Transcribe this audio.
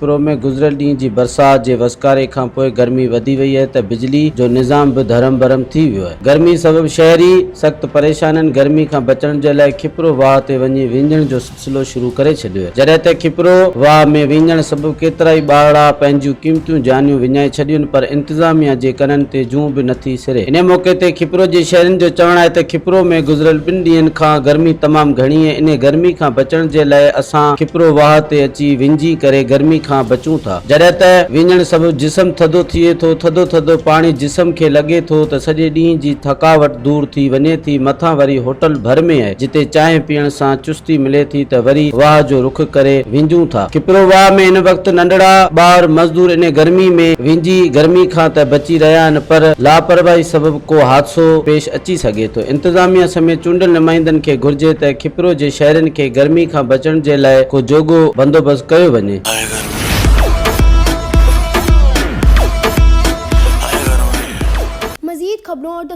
پرو ۾ گذريل ڏينهن جي برسات جي وسڪاري کانپوء گرمي وڌي وئي اهي ته بجلي جو نظام به ڌرم برم ٿي ويو اهي گرمي سبب شهري سخت پريشان اهن گرمي کان بچڻ جي لاء کپرو واهه تي وڃي وينجهڻ جو سلسلو شروع ڪري ڇڏيو اهي جڏهن ته کپرو واهه ۾ وينجهڻ سبب ڪيترائي ٻارڙا پنهنجيون قيمتيون جانيون وڃائي ڇڏيون پر انتظاميا جي ڪنن تي جون به نٿي سري. انهيء موقعي تي کپرو جي شهرين جو چوڻ آهي ته کپرو ۾ گذريل ٻن ڏينهن کان گرمي تمام گهڻي ۽ انهيء گرمي کان بچڻ جي لاء اسان کپرو واهه تي اچي وڃجي ڪري گرمي کان بچون ٿا جڏهن ته وڃڻ سبب جسم ٿڌو ٿئي ٿو ٿڌو ٿڌو پاڻي جسم کي لڳي ٿو ته سڄي ڏينهن جي ٿڪاوٽ دور ٿي وڃي ٿي مٿان وري هوٽل ڀر ۾ جتي چانهه پيئڻ سان چستي ملي ٿي ته وري واهه جو رخ ڪري وينجون ٿا. کپرو واهه ۾ هن وقت ننڍڙا ٻار مزدور انهي گرمي ۾ وينجي گرمي کان ته بچي رهيا آهن پر لاپرواهي سبب ڪو حادثو پيش اچي سگهي ٿو انتظاميا سميت چونڊيل نمائندن کي گهرجي ته کپرو جي شهرين کي گرمي کان بچڻ جي لاء ڪو جوڳو بندوبست ڪيو وڃي. مزيد خبرون ۽